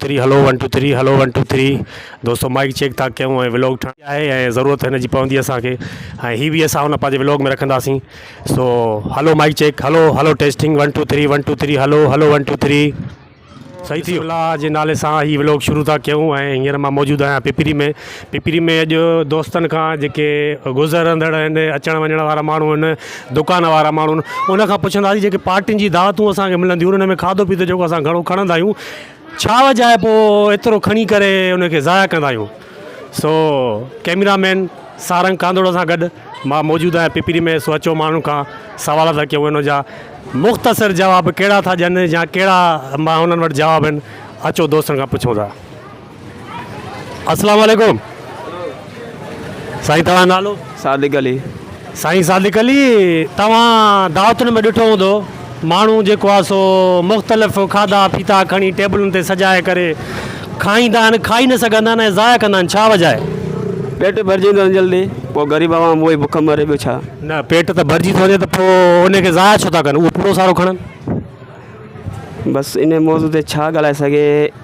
ٿري hello one two three hello one two three دوستو mic check ٿا ڪيون ۽ vlog ٺاهڻي آهي ۽ ضرورت هن جي پوندي اسان کي ۽ هي به اسان هن پنهنجي ولوگ ۾ رکنداسين سو hello mic check hello hello testing one two three one two three hello hello one two three صحيح ٿي الله جي نالي سان هي ولوگ شروع ٿا ڪيون ۽ هينئر مان موجود آهيان پپري ۾ پپري ۾ اڄ دوستن کان جيڪي گذرندڙ آهن اچڻ وڃڻ وارا ماڻهو آهن دڪان وارا ماڻهو آهن ان کان پڇنداسين جيڪي پارٽين جي دعوتون اسان کي ملنديون آهن ان ۾ کاڌو پيتو جيڪو اسان گهڻو کڻندا آهيون ڇا وجه آهي پوء ايترو کڻي ڪري ان کي ضايع ڪندا آهيون. سو ڪئميرا مين سارنگ ڪانڌوڙو سان گڏ مان موجود آهيان پپري ۾ سو اچو ماڻهن کان سوال ٿا ڪيون ان جا مختصر جواب ڪهڙا ٿا ڏين يا ڪهڙا مان انهن وٽ جواب آهن اچو دوستن کان پڇون ٿا. اسلام عليڪم سائين توهان جو نالو. صادق علي. سائين صادق علي توهان دعوتن ۾ ڏٺو هوندو ماڻهو جيڪو آهي سو مختلف کاڌا پيتا کڻي ٽيبلن تي سجائي ڪري کائيندا آهن کائي نه سگهندا آهن ۽ ضايع ڪندا آهن ڇا وجه آهي؟ پيٽ ڀرجي ويندو آهن جلدي پوء غريب عوام اهو ئي بک مري ٻيو ڇا. نه پيٽ ته ڀرجي ٿو وڃي ته پوء ان کي ضايع ڇو ٿا ڪن اهو پورو سارو کڻن. بس انهي موضوع تي ڇا ڳالهائي سگهي.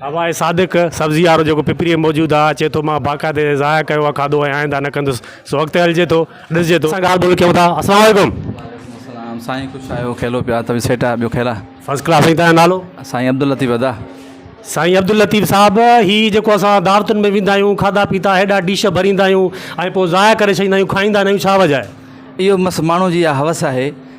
هواء صادق، سبزي وارو جيڪو پپريء ۾ موجود آ، چئي ٿو، مان باقاعدي ضايع ڪيو آ کاڌو ۽ آئنده نه ڪندس. سو اڳتي هلجي ٿو. ڏسجي ٿو. اسان ڳالهه ٻولهه ڪيون ٿا. السلام عليڪم. وعليڪم السلام سائين خوش آهيو کيلو پيا توي سيٽ آهي ٻيو کيلا. فرسٽ ڪلاس سائين تنهنجو نالو. سائين عبداللطيف ادا. سائين عبداللطيف صاحب هي جيڪو اسان دعوتن ۾ ويندا آهيون کاڌا پيتا هيڏا ڊش ڀريندا آهيون ۽ پوء ضايع ڪري ڇڏيندا آهيون کائيندا نه آهيون ڇا وجه آهي؟ اهو بس ماڻهو جي اها هوس آهي.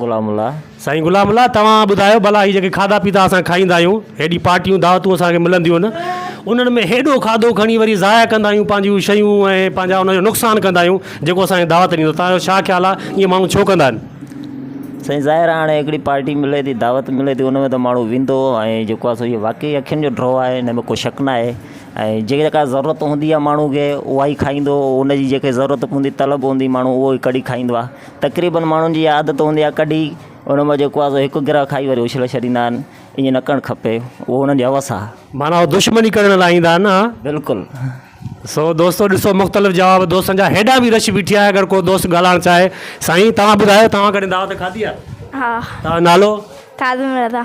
غلام الله، سائين غلام الله توهان ٻڌايو ڀلا هي جيڪي کاڌا پيتا اسان کائيندا آهيون، هيڏي پارٽيون دعوتون اسان کي ملنديون آهن، انهن ۾ هيڏو کاڌو کڻي وري ضايع ڪندا آهيون پنهنجيون شيون ۽ پنهنجا ان جو نقصان ڪندا آهيون جيڪو اسان کي دعوت ڏيندو توهان جو ڇا خيال آهي ايئن ماڻهو ڇو ڪندا آهن؟ سائين ظاهر آهي هاڻي هڪڙي پارٽي ملي ٿي دعوت ملي ٿي ان ۾ ته ماڻهو ويندو ۽ جيڪو آهي سو اهو واقعي اکين جو ڊرو آهي ان ۾ ڪو شڪ نه آهي ۽ جيڪا ڪا ضرورت هوندي آهي ماڻهو کي اها ئي کائيندو ان جي جيڪي ضرورت هوندي طلب هوندي ماڻهو اهو ئي ڪڍي کائيندو آهي تقريبن ماڻهن جي اها عادت هوندي آهي ڪڍي ان مان جيڪو آهي هڪ گرهه کائي وري اڇلي ڇڏيندا آهن ائين نه ڪرڻ کپي اهو انهن جي هوس آهي معنيٰ هو دشمني ڪرڻ لاء ايندا آهن ها بلڪل سو دوستو ڏسو مختلف جواب دوستن جا هيڏا به رش بيٺي آهي اگر ڪو دوست ڳالهائڻ چاهي سائين توهان ٻڌايو توهان ڪڏهن دعوت کاڌي آهي ها توهان جو نالو؟ خادم رضا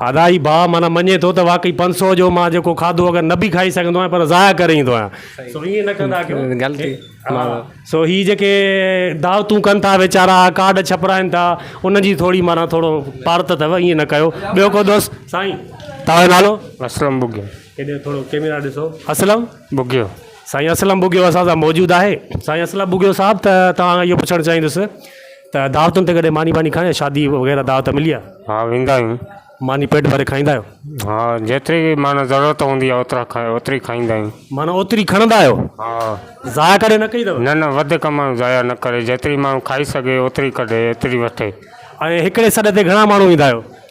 الاهي ڀاء معنيٰ مڃي ٿو ته واقعي پنج سؤ جو مان جيڪو کاڌو اگر نه به کائي سگهندو آهيان پر ضايع ڪري ايندو آهيان سو ائين نه ڪندا ڪيو غلطي ها سو هي جيڪي دعوتون ڪن ٿا ويچارا ڪارڊ ڇپرائن ٿا ان جي ٿوري معنيٰ ٿورو پارت اٿو ائين نه ڪيو ٻيو ڪو دوست سائين توهان جو نالو اسلم ٻگهيو هيڏي ٿورو ڪيميرا ڏي ڏسو اسلم ٻگهيو سائين اسلم ٻگهيو اسان سان موجود آهي سائين اسلم ٻگهيو صاحب ته توهان کان اهو پڇڻ چاهيندس ته دعوتن تي ڪڏهن ماني واني کائي آيا شادي وغيره دعوت ملي آ ها ويندا آهيون ماني پيٽ ڀري کائيندا آهيو ها جيتري به معنيٰ ضرورت هوندي آهي اوترا کائي اوتري کائيندا آهيون معنيٰ اوتري کڻندا آهيو ها ضايع ڪڏهن نه ڪئي اٿو نه نه وڌيڪ ماڻهو ضايع نه ڪري جيتري ماڻهو کائي سگهي اوتري ڪڍي اوتري وٺي ۽ هڪڙي سڏ تي گهڻا ماڻهو ايندا آهيو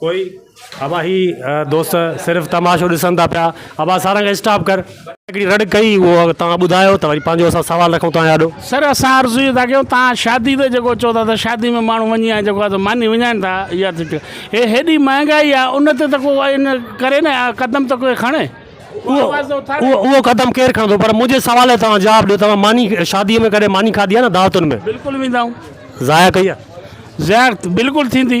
ڪوئي ابا هي دوست صرف تماشو ڏسن ٿا پيا ابا سارنگ اسٽاپ ڪر. هڪڙي رڙ ڪئي اهو توهان ٻڌايو ته وري پنهنجو اسان سوال رکون توهان آڏو. سر اسان عرض اهو ٿا ڪيون توهان شادي تي جيڪو چئو ٿا ته شادي ۾ ماڻهو وڃي ۽ جيڪو آهي سو ماني وڃائين ٿا اها ته هي هيڏي مهانگائي آهي ان تي ته ڪو ان ڪري نه قدم ته ڪوئي کڻي اهو آواز ته اٿاري. اهو اهو قدم ڪير کڻندو پر منهنجي سوال جو توهان جواب ڏيو توهان ماني شادي ۾ ڪڏهن ماني کاڌي آهي نه دعوتن ۾. بلڪل ويندا آهون. ضايع ڪئي آهي. ضايع بلڪل ٿيندي.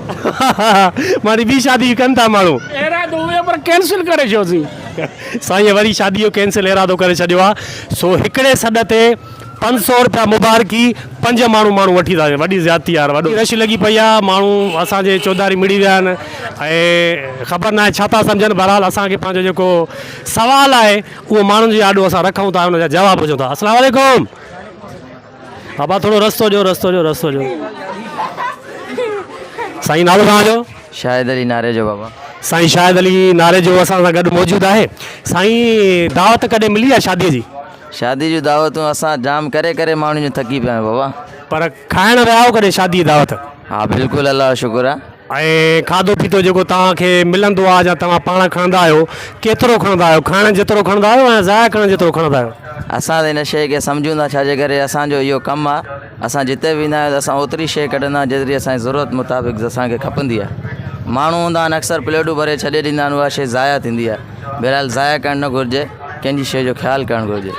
ماني ٻي شادي به ڪن ٿا ماڻهو. ارادو هيو پر ڪينسل ڪري ڇوسين. سائين وري شادي جو ڪينسل ارادو ڪري ڇڏيو آ سو هڪڙي سڏ تي پنج سئو رپيا مبارڪي پنج ماڻهو ماڻهو وٺي ٿا وڃن وڏي زيادتي آ يار وڏو رش لڳي پئي آ ماڻهو اسان جي چوڌاري مڙي ويا آهن ۽ خبر ناهي ڇا ٿا سمجهن بهرحال اسان کي پنهنجو جيڪو سوال آهي اهو ماڻهن جي آڏو اسان رکون ٿا ان جا جواب هجن ٿا السلام عليڪم. بابا ٿورو رستو ڏيو رستو ڏيو رستو ڏيو سائين نالو توهان جو. شاهد علي ناريجو بابا. سائين شاهد علي ناريجو اسان سان گڏ موجود آهي سائين دعوت ڪڏهن ملي آهي شادي جي. شادي جون دعوتون اسان جام ڪري ڪري ماڻهن جون ٿڪي پيا آهيون بابا. پر کائڻ ويا آهيو ڪڏهن شادي جي دعوت. ها بلڪل الله جو شڪر آ. ۽ کاڌو پيتو جيڪو توهان کي ملندو آهي يا توهان پاڻ کڻندا آهيو ڪيترو کڻندا آهيو کائڻ جيترو کڻندا آهيو يا ضايع ڪرڻ جيترو کڻندا آهيو. اسان ته ان شيء کي سمجهون ٿا ڇا جي ڪري اسان جو اهو ڪم آهي اسان جتي به ويندا آهيون ته اسان اوتري شيء ڪڍندا آهيون جيتري اسان جي ضرورت مطابق اسان کي کپندي آهي ماڻهو هوندا آهن اڪثر پليٽون ڀري ڇڏي ڏيندا آهن اها شيء ضايع ٿيندي آهي بهرحال ضايع ڪرڻ نه گهرجي ڪنهن جي شيء جو خيال ڪرڻ گهرجي.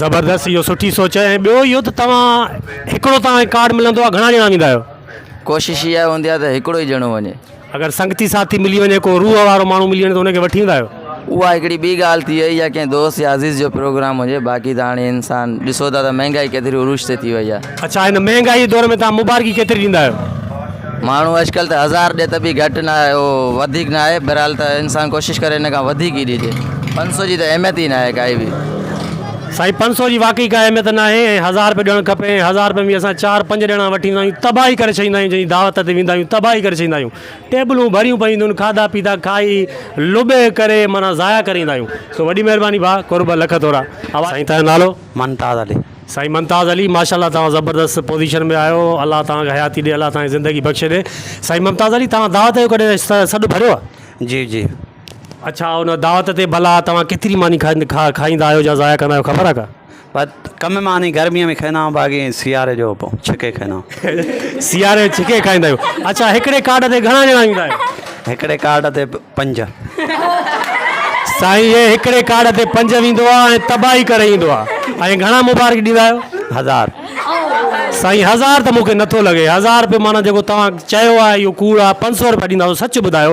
زبردست اهو سٺي سوچ ۽ ٻيو اهو ته توهان هڪڙو توهان کي ڪارڊ ملندو آهي گهڻا ڄڻا ويندا آهيو. ڪوشش اها هوندي آهي ته هڪڙو ئي ڄڻو وڃي. اگر سنگتي ساٿي ملي وڃي، ڪو روح وارو ماڻهو ملي وڃي ته ان کي وٺي ويندا آهيو؟ اها هڪڙي ٻي ڳالهه ٿي وئي يا ڪنهن دوست يا عزيز جو پروگرام هجي باقي ته هاڻي انسان ڏسو ٿا ته مهنگائي ڪيتري عروج تي ٿي وئي آهي. اڇا هن مهنگائي جي دور ۾ توهان مبارڪي ڪيتري ڏيندا آهيو؟ ماڻهو اڄڪلهه ته هزار ڏي ته به گهٽ نه آهي اهو وڌيڪ نه آهي بهرحال ته انسان ڪوشش ڪري ان کان وڌيڪ ئي ڏجي. پنج سؤ جي ته اهميت ئي نه آهي ڪائي به. سائين پنج سئو جي واقعي ڪا اهميت ناهي ۽ هزار رپيو ڏيڻ کپي ۽ هزار رپين ۾ اسان چار پنج ڄڻا وٺي ايندا آهيون تباهي ڪري ڇڏيندا آهيون جنهنجي دعوت تي ويندا آهيون تباهي ڪري ڇڏيندا آهيون ٽيبلون ڀريون پيون هونديون آهن کاڌا پيتا کائي لٻي ڪري معنيٰ ضايع ڪري ايندا آهيون سو وڏي مهرباني ڀاء قرب لک ٿورا. سائين تنهنجو نالو. ممتاز علي. سائين ممتاز علي ماشاءالله توهان زبردست پوزيشن ۾ آهيو الله توهان کي حياتي ڏي الله توهان کي زندگي بخشي ڏي سائين ممتاز علي توهان دعوت جو ڪڏهن سڏ ڀريو آهي. جي جي. اڇا ان دعوت تي ڀلا توهان ڪيتري ماني کائيندا آهيو يا ضايع ڪندا آهيو خبر آهي ڪا؟ ڪم ماني گرميء ۾ کائيندا آهيون باقي سياري جو ڇڪي کائيندا آهيون. سياري جو ڇڪي کائيندا آهيو اڇا هڪڙي ڪارڊ تي گهڻا ڄڻا ايندا آهيو؟ هڪڙي ڪارڊ تي پنج. سائين هي هڪڙي ڪارڊ تي پنج ويندو آهي ۽ تباهي ڪري ايندو آهي ۽ گهڻا مبارڪ ڏيندا آهيو؟ هزار. سائين هزار ته مونکي نٿو لڳي هزار رپيو معنيٰ جيڪو توهان چيو آهي اهو ڪوڙ آهي پنج سؤ رپيا ڏيندا سچ ٻڌايو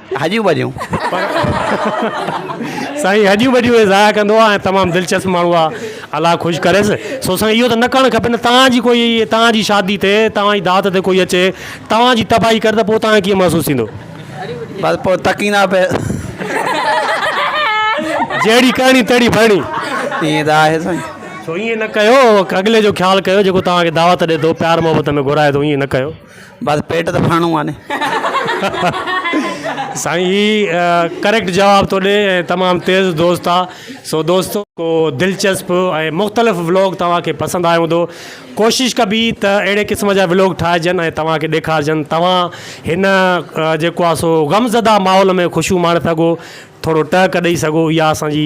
هڏيون ٻڏيون. پر سائين هڏيون ٻڏيون هي ضايع ڪندو آ ۽ تمام دلچسپ ماڻهو آ الله خوش ڪريس سو سائين اهو ته نه ڪرڻ کپي نه توهان جي ڪوئي توهان جي شادي تي توهان جي دعوت تي ڪوئي اچي توهان جي تباهي ڪري ته پو توهان کي ڪيئن محسوس ٿيندو بس پو تڪين آ پي جهڙي ڪرڻي تهڙي ڀرڻي. ائين ته آهي سائين. سو ائين نه ڪيو اڳلي جو خيال ڪيو جيڪو توهان کي دعوت ڏي ٿو پيار محبت ۾ گهرائي ٿو ائين نه ڪيو. بس پيٽ ته ڦاڻو آني. سائين هي ڪريڪٽ جواب ٿو ڏي ۽ تمام تيز دوست آ سو دوستو ڪو دلچسپ ۽ مختلف ولوگ توهان کي پسند آيو هوندو ڪوشش ڪبي ته اهڙي قسم جا ولوگ ٺاهجن ۽ توهان کي ڏيکارجن توهان هن جيڪو آ سو غم زده ماحول ۾ خوشيون ماڻي سگهو ٿورو ٽهڪ ڏئي سگهو اها اسان جي